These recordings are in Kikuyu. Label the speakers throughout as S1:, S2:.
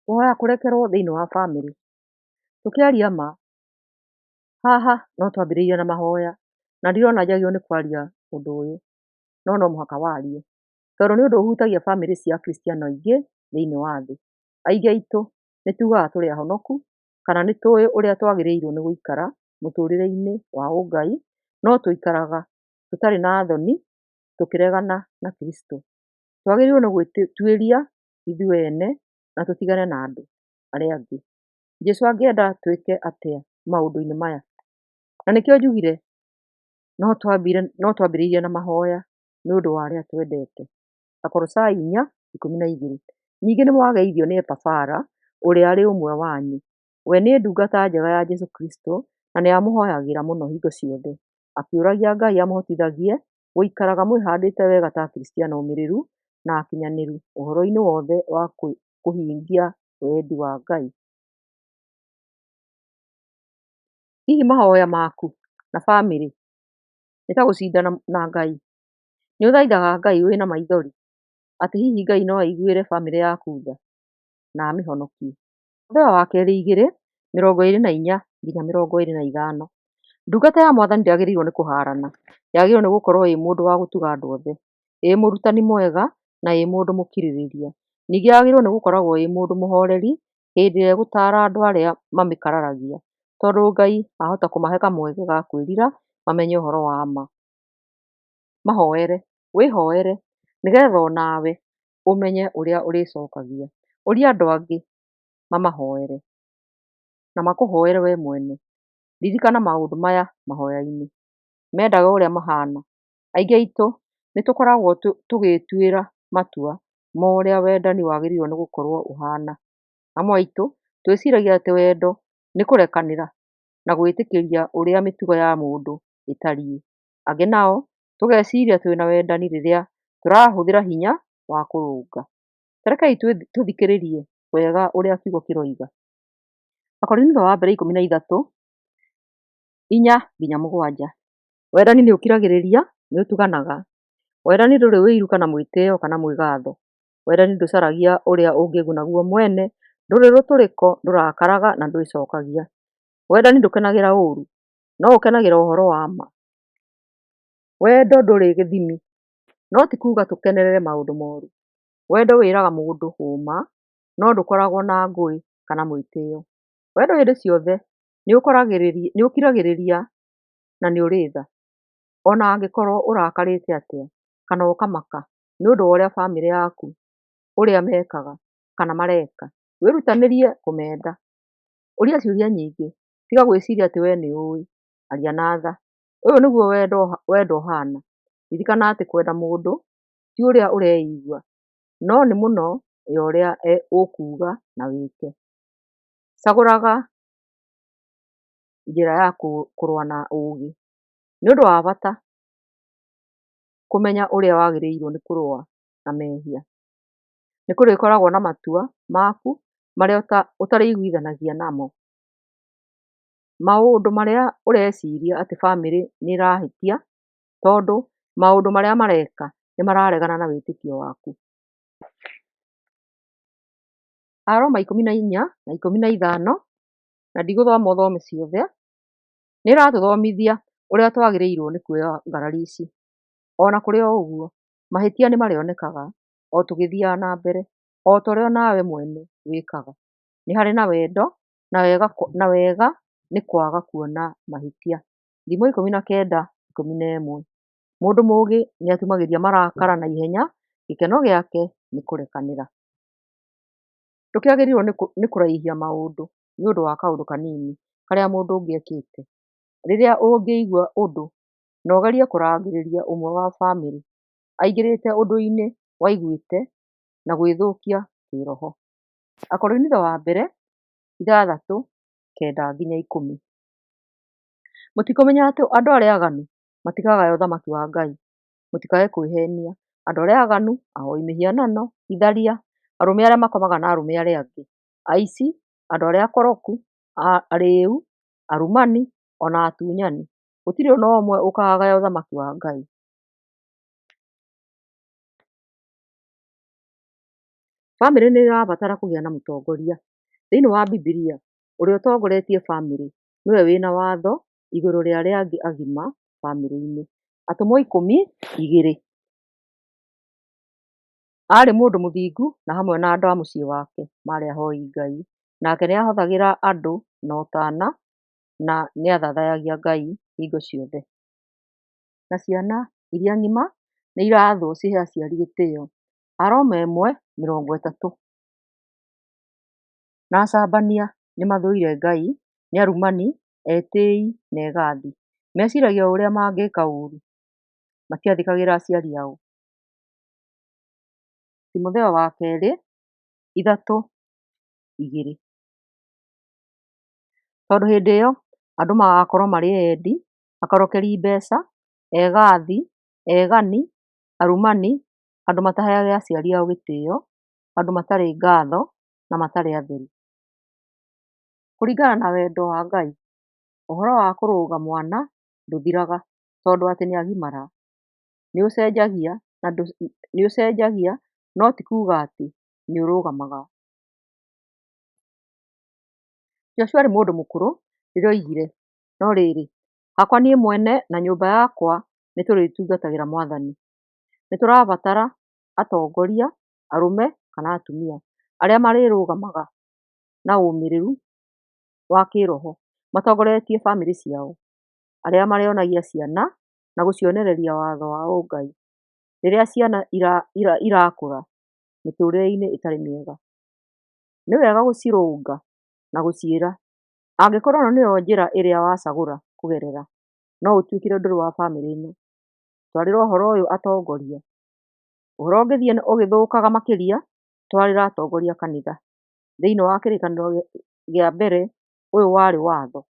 S1: kũhoya kũrekerwo thĩinĩ wa bamĩrĩ. Tũkĩaria ma, haha no twambĩrĩirie na mahoya, na ndirona njagĩrĩirwo nĩ kwaria ũndũ ũyũ, no no mũhaka warie, tondũ nĩ ũndũ ũhutagia bamĩrĩ cia Akristiano aingĩ thĩinĩ wa thĩ. Aingĩ aitũ nĩ tugaga tũrĩ ahonoku, kana nĩ tũĩ ũrĩa twagĩrĩirwo nĩ gũikara mũtũrĩre-inĩ wa ũngai, no tũikaraga tũtarĩ na thoni, tũkĩregana na Kristo. Twagĩrĩirwo nĩ gwĩtuĩria ithuĩ ene na tũtigane na andũ arĩa angĩ. Jesũ angĩenda twĩke atĩa maũndũ-inĩ maya? Na nĩkĩo njugire no twambire no twambĩrĩirie na mahoya nĩ ũndũ wa arĩa twendete. Akolosai inya ikũmi na igĩrĩ. Ningĩ nĩ mwageithio nĩ Epafara ũrĩa arĩ ũmwe wanyu. We nĩ ndungata njega ya Jesũ Kristo na nĩ amũhoyagĩra mũno hingo ciothe, akĩũragia Ngai amũhotithagie Gũikaraga mwĩhandĩte wega ta Akristiano omĩrĩru na akinyanĩru ũhoro-inĩ wothe wa kũhingia wendi wa Ngai. Hihi mahoya maku na bamĩrĩ nĩ ta gũcindana na Ngai? Nĩ ũthaithaga Ngai wĩna maithori atĩ hihi Ngai no aiguĩre bamĩrĩ yaku tha na amĩhonokie? mũthenya wa kerĩ igĩrĩ mĩrongo ĩrĩ na inya nginya mĩrongo ĩrĩ na ithano ndungata ya mwathani ndĩagĩrĩirwo nĩ kũharana yagĩrĩirwo nĩ gũkorwo ĩ mũndũ wa gũtuga andũ othe ĩ mũrutani mwega na ĩ mũndũ mũkirĩrĩria ningĩ yagĩrĩirwo nĩ gũkoragwo ĩ mũndũ mũhoreri hĩndĩ ĩrĩa ĩgũtara andũ arĩa mamĩkararagia tondũ Ngai ahota kũmahe kamweke ga kwĩrira mamenye ũhoro wa ma, mahoere wĩhoere nĩgetha onawe ũmenye ũrĩa ũrĩcokagia. Ũria andũ angĩ mamahoere, na makũhoere we mwene. Ririkana maũndũ maya mahoya-inĩ, mendaga ũrĩa mahana. Aingĩ aitũ nĩ tũkoragwo tũgĩĩtuĩra matua ma ũrĩa wendani wagĩrĩirwo nĩ gũkorwo ũhana. Amwe aitũ twĩciragia atĩ wendo nĩ kũrekanĩra na gwĩtĩkĩria ũrĩa mĩtugo ya mũndũ ĩtariĩ. angĩ nao tũgeciria twĩ na wendani rĩrĩa tũrahũthĩra hinya wa kũrũnga. Ta rekei tũthikĩrĩrie wega ũrĩa kiugo kĩroiga. Akorinitho wa mbere ikũmi na ithatũ, inya nginya mũgwanja. Wendani nĩ ũkiragĩrĩria, nĩ ũtuganaga. Wendani ndũrĩ ũiru kana mwĩtĩo kana mwĩgatho. Wendani ndũcaragia ũrĩa ũngĩguna guo mwene, ndũrĩ rũtũrĩko, ndũrakaraga na ndwĩcokagia. Wendani ndũkenagĩra ũũru. No ũkenagĩra ũhoro wa ma? Wendo ndũrĩ gĩthimi, no ti kuuga tũkenerere maũndũ moru. Wendo wĩraga mũndũ ũũma, no ndũkoragwo na ngũĩ kana mwĩtĩo. Wendo hĩndĩ ciothe nĩ ũkiragĩrĩria na nĩ ũrĩ tha, o na angĩkorwo ũrakarĩte atĩa kana ũkamaka nĩ ũndũ wa ũrĩa bamĩrĩ yaku, ũrĩa mekaga kana mareka. Wĩrutanĩrie kũmenda. Ũria ciũria nyingĩ Tiga gwĩciria atĩ wee nĩ ũũĩ, aria na tha. Ũyũ nĩguo wendo ũhaana, Ririkana atĩ kwenda mũndũ ti ũrĩa ũreigua, no nĩ mũno ya ũrĩa ũkuuga na wĩke. Cagũraga njĩra ya kũrũa na ũũgĩ, Nĩ ũndũ wa bata kũmenya ũrĩa wagĩrĩirũo nĩ kũrũa na mehia. Nĩ kũrĩkoragwo na matua maku marĩa ũtarĩiguithanagia namo Maũndũ marĩa ũreciria atĩ bamĩrĩ nĩ ĩrahĩtia tondũ maũndũ marĩa mareka nĩ mararegana na wĩtĩkio waku. Aroma ikũmi na inya na ikũmi na ithano, na ndigũthoma ũthome ciothe, nĩ ĩratũthomithia ũrĩa twagĩrĩirwo nĩ kuoya ngarari ici. Ona kũrĩ o ũguo, mahĩtia nĩ marĩonekaga o tũgĩthiaga na mbere, o ta ũrĩa onawe mwene wĩkaga. nĩ harĩ na wendo na wega na wega nĩ kwaga kuona mahĩtia. Thimo ikũmi na kenda ikũmi na ĩmwe. Mũndũ mũgĩ nĩ atumagĩria marakara na ihenya, gĩkeno gĩake nĩ kũrekanĩra. Tũkĩagĩrĩirwo nĩ kũraihia maũndũ nĩ ũndũ wa kaũndũ kanini karĩa mũndũ ũngĩ ekĩte. Rĩrĩa ũngĩigua ũndũ na ũgerie kũrangĩrĩria ũmwe wa bamĩrĩ aingĩrĩte ũndũ-inĩ waiguĩte na gwĩthũkia kĩroho. Akorinitho wa mbere ithathatũ kenda nginya ikũmi. Mũtikũmenya atĩ andũ arĩa aganu matikagaya ũthamaki wa Ngai. Mũtikae kwĩhenia, andũ arĩa aganu, ahoi mĩhianano, itharia, arũme arĩa makomaga na arũme arĩa angĩ, aici, andũ arĩa akoroku, arĩu, arumani, ona atunyani, gũtirĩ ona ũmwe ũkagaya ũthamaki wa Ngai. Bamĩrĩ nĩ ĩrabatara kũgĩa na mũtongoria. Thĩinĩ wa Bibilia, ũrĩa ũtongoretie bamĩrĩ nĩwe wĩna watho igũrũ rĩa arĩa angĩ agima bamĩrĩ-inĩ. Atũmwo ikũmi igĩrĩ. Arĩ mũndũ mũthingu na hamwe na andũ a mũciĩ wake marĩ ahoi Ngai. Nake nĩ ahũthagĩra andũ na ũtana na nĩ athathayagia Ngai hingo ciothe. Na ciana iria ng'ima nĩ irathwo cihe aciari gĩtĩo. arama ĩmwe mĩrongo ĩtatũ. Na acambania nĩ mathũire Ngai, nĩ arumani, etĩĩi na egathi. Meciragia o ũrĩa mangĩka ũũru, matiathĩkagĩra aciari ao. Timotheo wa kerĩ ithatũ igĩrĩ. Tondũ hĩndĩ ĩyo andũ magakorwo marĩ endi, akorokeri mbeca, egathi, egani, arumani, andũ mataheage aciari ao gĩtĩo, andũ matarĩ ngatho na matarĩ atheru. Kũringana na wendo wa Ngai, ũhoro wa kũrũga mwana ndũthiraga tondũ atĩ nĩ agimara, nĩ ũcenjagia na nĩ ũcenjagia no ti kuga atĩ nĩ ũrũgamaga. Joshua arĩ mũndũ mũkũrũ rĩrĩa oigire, no rĩrĩ, hakwa niĩ mwene na nyũmba yakwa nĩ tũrĩtungatagĩra Mwathani. Nĩ tũrabatara atongoria arũme kana atumia arĩa marĩrũgamaga na ũmĩrĩru wa kĩroho matongoretie bamĩrĩ ciao, arĩa marĩonagia ciana na gũcionereria watho wa ũngai. Rĩrĩa ciana irakũra mĩtũrĩre-inĩ ĩtarĩ mĩega, nĩ wega gũcirũnga na gũciĩra angĩkorwo ĩno nĩyo njĩra ĩrĩa wacagũra kũgerera no ũtuĩkĩre ndũrĩ wa bamĩrĩ ĩno. twarĩra ũhoro ũyũ atongoria, ũhoro ũngĩthiĩ ũgĩthũkaga makĩria, twarĩra atongoria a kanitha. Thĩiniĩ wa kĩrĩkanĩro gĩa mbere, ũyũ warĩ watho.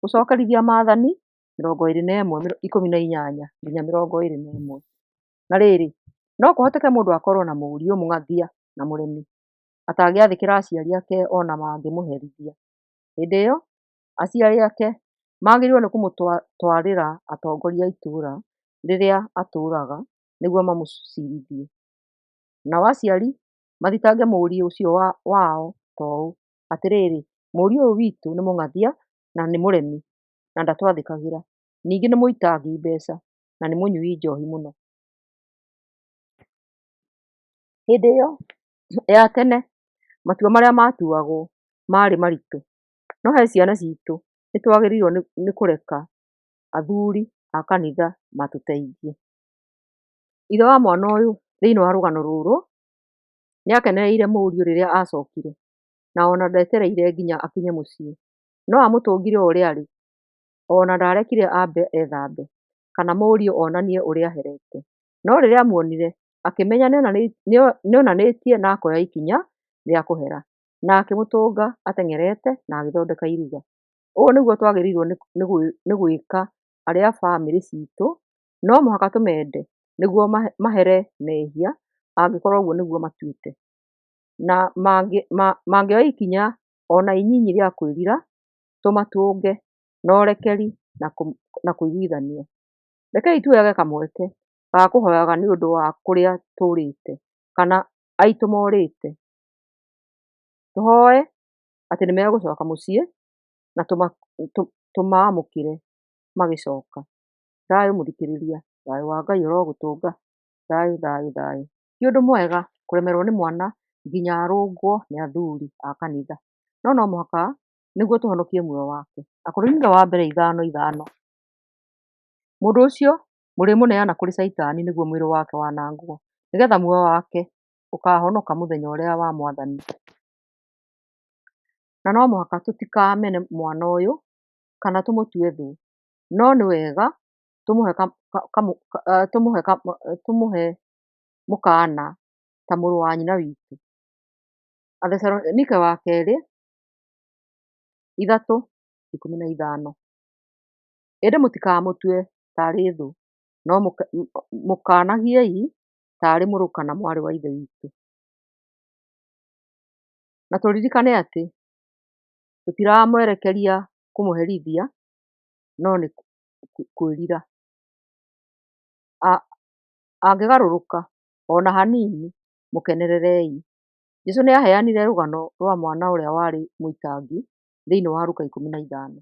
S1: Gũcokerithia maathani, mĩrongo ĩrĩ na ĩmwe ikũmi na inyanya nginya mĩrongo ĩrĩ na ĩmwe. Na rĩrĩ, no kũhoteke mũndũ akorwo na mũriũ mũng'athia na mũremi, atangĩathĩkĩra aciari ake ona mangĩmũherithia. Hĩndĩ ĩyo, aciari ake magĩrĩirwo nĩ kũmũtwarĩra atongoria a itũra rĩrĩa atũraga nĩguo mamũcirithie. Nao aciari mathitange mũriũ ũcio wao ta ũũ, atĩrĩrĩ, mũriũ ũyũ witũ nĩ mũng'athia na nĩ mũremi na ndatwathĩkagĩra, ningĩ nĩ mũitangi mbeca na nĩ mũnyui njohi mũno. Hĩndĩ ĩyo ya tene matua marĩa matuagwo marĩ maritũ No he ciana citũ nĩtwagĩrĩirwo nĩ kũreka athuri a kanitha matũteithie. Ithe wa mwana ũyũ thĩiniĩ wa rũgano rũrũ, nĩakenereire mũriũ rĩrĩa acokire, na ona ndetereire nginya akinye mũciĩ, no amũtũngire o ũrĩa arĩ, ona ndarekire ambe ethambe, kana mũriũ onanie ũrĩa aherete. No rĩrĩa amuonire, akĩmenya nĩonanĩtie na akoya ikinya rĩa kũhera. na akĩmũtũnga ateng'erete na agĩthondeka iruga. Ũũ nĩguo twagĩrĩirwo nĩ gwĩka arĩa a bamĩrĩ citũ, no mũhaka tũmende nĩguo mahere mehia angĩkorwo ũguo nĩguo matuĩte. Na mangĩoya ikinya ona inyinyi rĩa kwĩrira, tũmatũnge na ũrekeri na kũiguithania. Rekei tuoyage kamweke ga kũhoyaga nĩũndũ wa kũrĩa tũrĩte kana aitũ morĩte. tũhoe atĩ nĩ megũcoka mũciĩ na tũmamũkĩre magĩcoka. Thayũ mũthikĩrĩria, thayũ wa Ngai ũrogũtũnga, thayũ thayũ thayũ. Ti ũndũ mwega kũremerwo nĩ mwana nginya arũngwo nĩ athuri a kanitha, no no mũhaka nĩguo tũhonokie muoyo wake. Akorinitho wa mbere ithano ithano, mũndũ ũcio mũrĩmũneana kũrĩ caitani nĩguo mwĩrĩ wake wanangwo, nĩgetha muoyo wake ũkahonoka mũthenya ũrĩa wa mwathani. Na no mũhaka tũtikamene mwana ũyũ, kana tũmũtue thũ, no nĩ wega tũmũhe tũmũhe tũmũhe mũkaana ta mũrũ wa nyina witũ. Athesalonike wa kerĩ, ithatũ, ikũmi na ithano. Ĩndĩ mũtikamũtue tarĩ thũ, no mũkaanagiei ta arĩ mũrũ kana mwarĩ wa Ithe witũ. Na tũririkane atĩ tũtiramwerekeria kũmũherithia no nĩ kwĩrira. Angĩgarũrũka ona hanini mũkenererei. Jesũ nĩaheanire rũgano rwa mwana ũrĩa warĩ mũitangi thĩinĩ wa Luka ikũmi na ithano.